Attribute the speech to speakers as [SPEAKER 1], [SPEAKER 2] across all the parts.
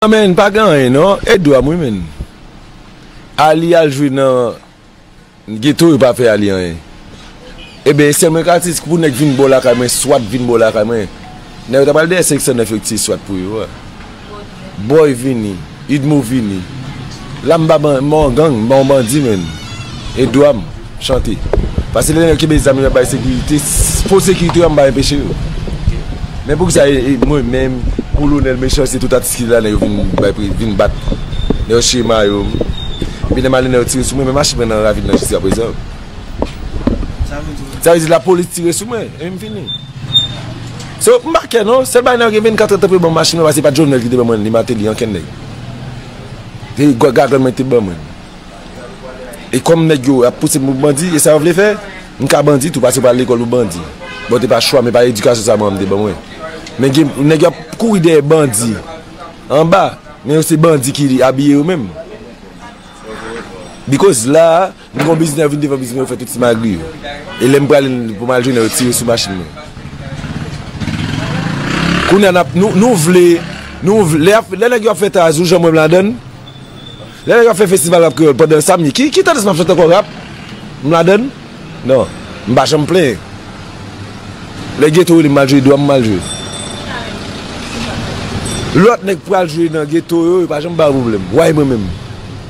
[SPEAKER 1] Nan menn pa gen anyen non e dwam wi menn Arly al jwe nan Ghetto yo pa fè Arly anyen eben esè mwen ka di pou nèg vin bò lakay mwen swat vin bò lakay mwen nèg yo ta pral dèyè 509 yo ti swat pou yo a. Boy vini idmo vini la m pa ban on gang m ban on bandi menn e dwa m chante pase lè nèg yo kenbe zam yo yap bay sekirite fo sekirite yo m pa enpeche yo men pou kisa e mwen menm kolonèl mechan se tout atis ki la nèg yo vin bay pri vin bat nèg yo chire mayo m epi lè m ale nèg yo tire sou mwen men mache m nan ravin nan jiska prezan sa vle di lapolis tire sou mwen epi m fini. Se open bar kè non, sèl bagay nan yo gen 24 èd tan pou yo banm machin mwen pase se pat Jovenel ki te ban mwen ni Martelly ankenn nèg. Se gagann mwen te ban mwen. E kòm nèg yo ap pousem pou bandi e sa yo vle fè, m ka bandi tou pase yo pral lekòl pou bandi. Bon te pa chwam e pa edikasyon sa manmanm te ban mwen. Men gen nèg yo ap kouri dèyè bandi anba men yo se bandi ki abiye yo menm. Bikoz la a. Mwen pran bizin an vin devan bizin mwen fè tout simagri yo. E lè m prale pou m al jwenn yo tire sou machin mwen. Kounye a nou vle, nou vle, lè nèg yo ap fè tazou jan mwen m ladann, lè nèg yo ap fè festival rap kreyòl pandan sa m ye, ki tandans m ap chante ankò rap? M ladann? Non. M pa janm plenyen. Lè geto rele m al jwe dwa m, m al jwe. Lòt nèg pral jwe nan geto yo, yo pa janm ba yo pwoblèm. Why mwen menm?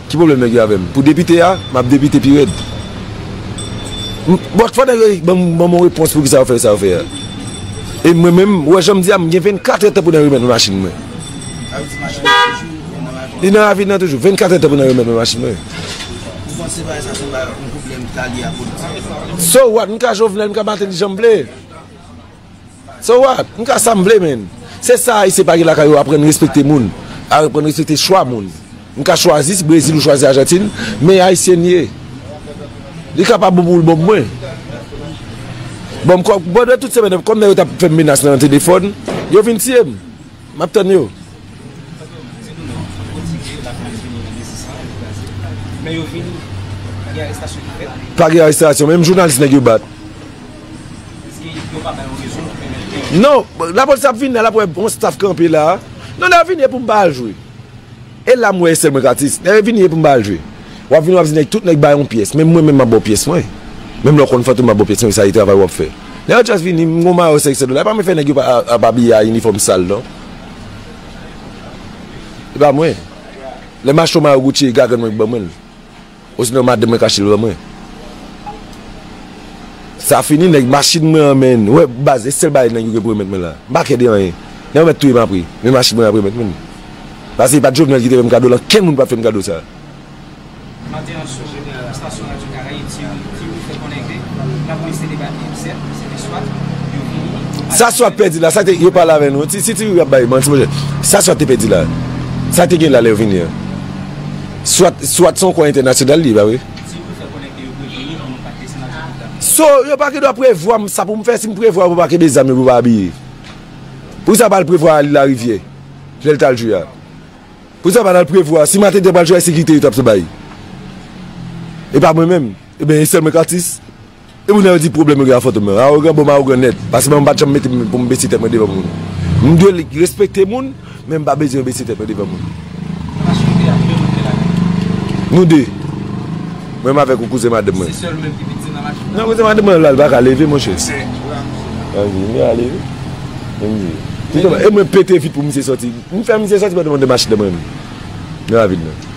[SPEAKER 1] Ki pwoblèm nèg yo avè m? Pou depite a, m ap depite pi rèd. Bon, fò nèg yo ban m yon repons pou ki sa yo fè sa yo fè a. E mwen menm, ou wè jan m di a, m gen vennkatrè tan pou nan remèt mwen machin mwen. Avèk machin nan toujou, ou nan lavi? Li nan lavi nan toujou. Vennkatrè tan pou nan remèt mwen machin mwen. Ou panse
[SPEAKER 2] bagay sa se yon pwoblèm ki ta lye a politik? So what? M ka
[SPEAKER 1] Jovenel, m ka Martelly jan m vle. So what? M ka sa m vle menn. Se sa Ayisyen pa gen lakay yo aprann respekte moun, aprann respekte chwa moun. M ka chwazi si Brezil ou chwazi Ajantin, men Ayisyen m ye. Li ka pa bon pou ou l bon pou mwen. Bon, pandan tout semèn nan, kòm nèg yo t ap fè m menas nan telefòn, yo vin tiye m. Map tann yo.
[SPEAKER 2] Pa gen arestasyon menm
[SPEAKER 1] jounalis nèg yo bat. Non lapolis ap vini la lap wè bon staff kanpe la. Non lè yo vini e poum pa al jwe. E la m wè esel mwen k atis. Dayè vini e pou m ba l jwe. Wap vini wap di nèg tout nèg bay yon pyès menm mwen menm map ba w pyès mwen. Menm lè w konn fantom map ba w pyès mwen sa e travay wap fè. Lè Athias vini m gon mayo 500 dola e pa mwen fè nèg yo ap abiye a inifòm sal non. E pa mwen. Lè m achte yon mayo Gucci e gagant mwen k ban mwen l. Osinon madanm mwen kache l ban mwen. Sa fini nèg machin mwen an menn. Ou wè baz e sèl bagay nèg yo gen pou remèt mwen la. M pa kè de anyen. Nèg yo mèt touye m apre. Men machin mwen ap remèt mwen li. Pase e pa t Jovenel ki te fè m kado l ankenn moun pap fè m kado sa a.
[SPEAKER 2] Maten an sou estasyon radyo Karayib ti Wi fè konnen ke lapolis te debake pou 7 se te swat yo vini yo pale Sa swat pèdi la?
[SPEAKER 1] Sa te yo pale avè nou? Si ti Wi ap bay manti monchè sa swat te pèdi la? Sa te gen la lè yo vini an? Swat, swat se yon kò entènasyonal li ye, pa vre? Si yo te fè konnen ke yo prevni nou pou nou pa te, se nan djòb leta nou. So, yo pa gen dwa prevwa m sa pou m fè, si m prevwa yo pou pa kenbe zam yo pou yo pa abiye. Poukisa yo pa al prevwa Arly Lariviere lè l t al jwe a? Poukisa yo pa t al prevwa, si Martin te pral jwe a e sekirite yo t ap bay? E pa mwen menm? Eben e sèl mwen k atis? Epi nan yo di pwoblèm yo gen ak Fantom nan. Arogan bonm arogan nèt. Paske mwen m pat janm mete m pou m bese tèt mwen devan moun. M dwe respekte moun, men m pa bezwen bese tèt mwen devan moun. Ou ka swive ak yon moun ki lakay ou? Nou 2. Mwen menm avèk yon kouzen madanm mwen. Se sèl ou menm ki piti nan
[SPEAKER 2] machin nan? Non kouzen madanm mwen la li paka
[SPEAKER 1] leve monchè. Ok. An di li ale. Li m di. E mwen pete vit pou misye sòti. M fè misye sòti pandan m anndan machin nan mwen menm. Nan ravin nan.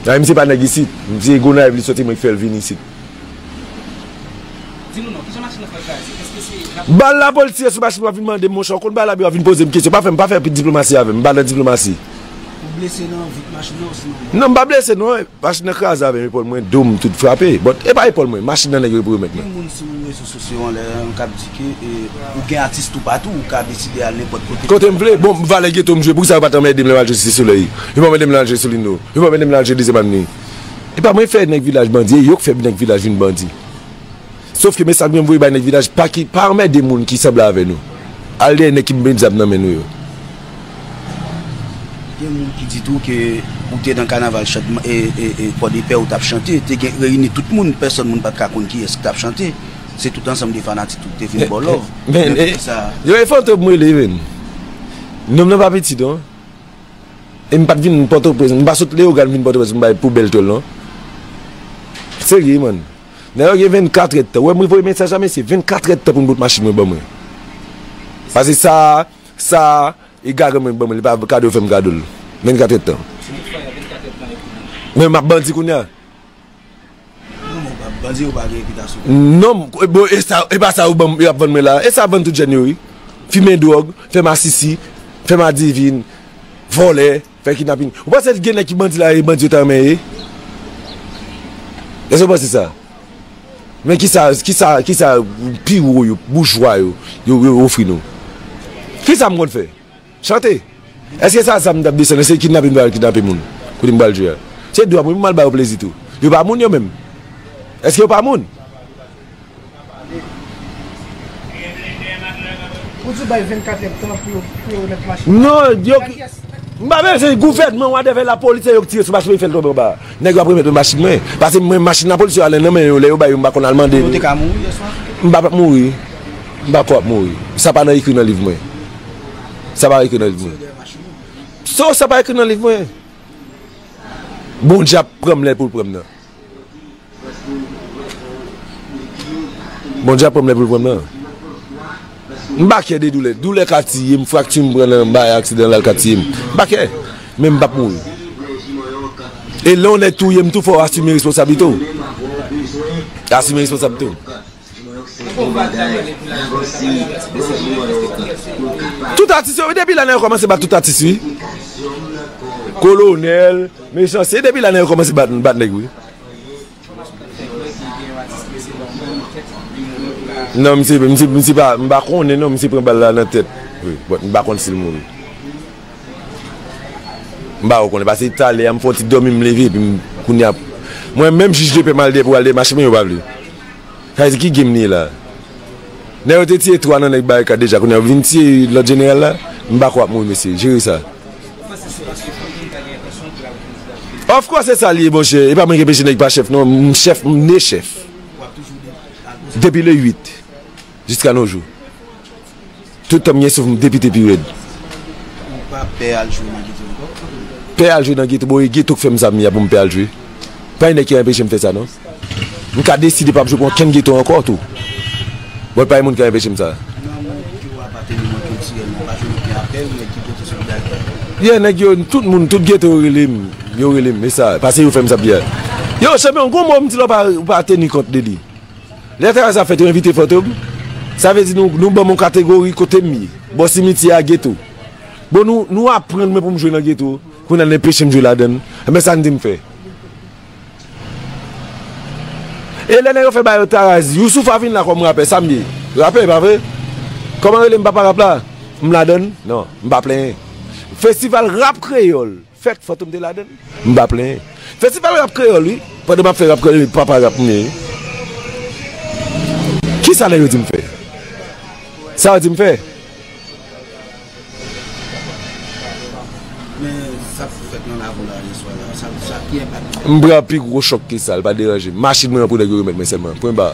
[SPEAKER 1] Dayè misye pa nèg isit. Misye Gonayiv li soti mwen ki fè l vini isit. Di nou non, kijan machin nan pral kraze?
[SPEAKER 2] Eske se la polis? Bal la polis tire sou machin
[SPEAKER 1] w ap vin mande m monchè, w konn bal la epi w ap vin poze m kesyon. Pa fè m, pa fè diplomasi avè m, m pa nan diplomasi. Ou blese
[SPEAKER 2] nan vit machin nan osinon ou. Non m pa blese non,
[SPEAKER 1] machin nan kraze avè m, epòl mwen, do m tout frape. Bon, e pa epòl mwen, machin nan nèg yo epi remèt mwen. Gen moun sou rezo. Se
[SPEAKER 2] yon lè nou kab di ke ou gen atis toupatou, ou ka deside al nenpòt kote. Kote m vle. Bon, valè
[SPEAKER 1] geto m jwe, poukisa yo pa t anmède m lè m al jwe Site Solèy? Yo pa anmède m lè m al jwe Solino? Yo pa anmède m lè m al jwe Dezyèm Avni? E pa mwen k fè nèg vilaj bandi, e yo k fè nèg vilaj vin bandi. Sof ke mesaj mwen voye bay nèg vilaj, pa anmède moun ki sanble avè nou. Al dèyè nèg ki pou met zam nan men nou yo.
[SPEAKER 2] Gen moun ki di tou ke ou te nan kanaval Pòdepè ou tap chante, te gen reyini tout moun, pèsòn moun pat ka konn kiyès ki tap chante, se tout ansanm de fanatik ki te vin baw lòv. Men kote
[SPEAKER 1] sa.
[SPEAKER 2] Yo e
[SPEAKER 1] Fantom m rele
[SPEAKER 2] menm.
[SPEAKER 1] Nonm nan pa piti
[SPEAKER 2] non.
[SPEAKER 1] E m pat vin Pòtoprens, m pa sot Leyogàn vin Pòtoprens pou m bay poubèl tòl non. Serye man. Nèg la gen 24 èdtan. Ou wè m voye mesaj la mesye, 24 èdtan pou m bout machin mwen ban mwen. Pase sa. Sa e gade mwen banm li pa kado fèm kadol 24 èd tan. Se li ki fè 24 èd tan epi li. Men map bandi kounya. Non men bandi yo pa gen repitasyon. Non bon esa epa sa yo banm yo ap vann mwen la esa vann tout jèn yo wi fimen dròg fè masisi fè madivin vòlè. Fè kidnaping. Ou panse gen nèg ki bandi la e bandi yo ta renmen ye? Èske ou panse sa? Men kisa, kisa, kisa pi wo yo, boujwa yo, yo, yo ofri nou? Ki zam konn fè? Chante. Èske sa zam tap desann, èske kidnaping m pral kidnape moun? Kote m pral jwe a? Se dwa mwen pou m al ba yo plezi tou. Yo pa moun yo menm? Èske yo pa moun?
[SPEAKER 3] Ou di bay 24 èd tan pou yo remèt machin nan? Non, yo
[SPEAKER 1] ki. M pa bezwen di gouvènman whatever la polis se yo ki tire sou machin mwen ki fè l tonbe anba a. Nèg yo ap remèt mwen machin mwen. Pase mwen machin lapolis yo ale nan men yo lè yo bay yo m pa konn al mande. Ou te ka mouri yè swa?
[SPEAKER 2] M pa p ap mouri.
[SPEAKER 1] M pa ko ap mouri. Sa pa nan ekri nan liv mwen. Sa pa ekri nan liv mwen. Sa pa ekri nan liv mwen. Bondye ap pran m lè l pou l pran m nan. Bondye ap pranm lè poul pranm nan. M pa kè de doulè. Doulè ka tiyem, frakti m pran nan bay aksidan la l ka tiyem. M pa kè. Men m pap mouri. E lè yon nèg touyem tou fòw asime responsablite w. Asime responsablite w. Tout atis yo wi depi la nèg yo komanse bat tout atis wi kolonèl mechan se depi la nèg yo komanse bat nèg wi nan misye misye pa m pa konnen non misye pran bal la nan tèt wi but m pa konn sil mouri m pa konnen pase talè a m fon ti dòmi m leve epi m kounya mwen menm jij depè m al depo al demache men yo pa vle. Sa vle di ki game nou ye la? Nèg yo te tiye 3 nan nèg barikad deja kounya yo vin tiye lòt jeneral la? M pako ap mouri mesye, jere sa. Ou panse se paske Fantom ta gen entansyon pou lal kandida pou Prezidan? Of course se sa li ye monchè, e pa mwen ki enpeche nèg pa chèf non, m chèf, m ne chèf. Wap toujou depi le 8. Jiska no jou. Tout tan m gen souf m depite pi rèd. Ou pa
[SPEAKER 2] pè al jwe nan geto ankò? Pè
[SPEAKER 1] al jwe nan geto? Bon e geto k fè m sa m ye a pou m pè al jwe? Pa gen nèg ki anpeche m fè sa non. M ka deside pa jwe pou ankenn geto ankò tou. Bon e pa gen moun ki anpeche m sa. Nan moun ki ou apateni nan kiltirèlman, pa janm gen apèl nèg ki pote solidarite ak ou? Yè nèg yo, tout moun, tout geto yo rele m. Yo rele m. E sa? Pase yo fè m sa m ye a. Yo, chanpyon, gon mo m di la ou pa teni kont de li. Lè travay sa fèt yo envite foto m, sa vle di nou ban m yon kategori kote m ye, bò simityè a, geto. Bon nou nou aprann mwen pou m jwe nan geto, kounya n enpeche m jwe ladan l, enben sa n di m fè? E lè nèg yo fè ba yo Tarazi, Youssoupha vin la kòm rapè, sa m ye? Rapè, pa vre? Kòman yo rele m papa rap la? M ladan l? Non, m pa plenyen. Festival rap kreyòl. Fèt Fantom te ladann, m pa plenyen. Festival rap kreyòl wi, pandan m ap fè rap kreyòl epi papa rap m ye wi. Kisa nèg yo di m fè? Sa yo di m fè? M pran pi
[SPEAKER 2] gwo
[SPEAKER 1] chòk ke sa, li pa
[SPEAKER 2] deranje
[SPEAKER 1] m. Machin mwen an
[SPEAKER 2] pou nèg
[SPEAKER 1] yo remèt mwen sèlman,
[SPEAKER 2] pwen
[SPEAKER 1] ba.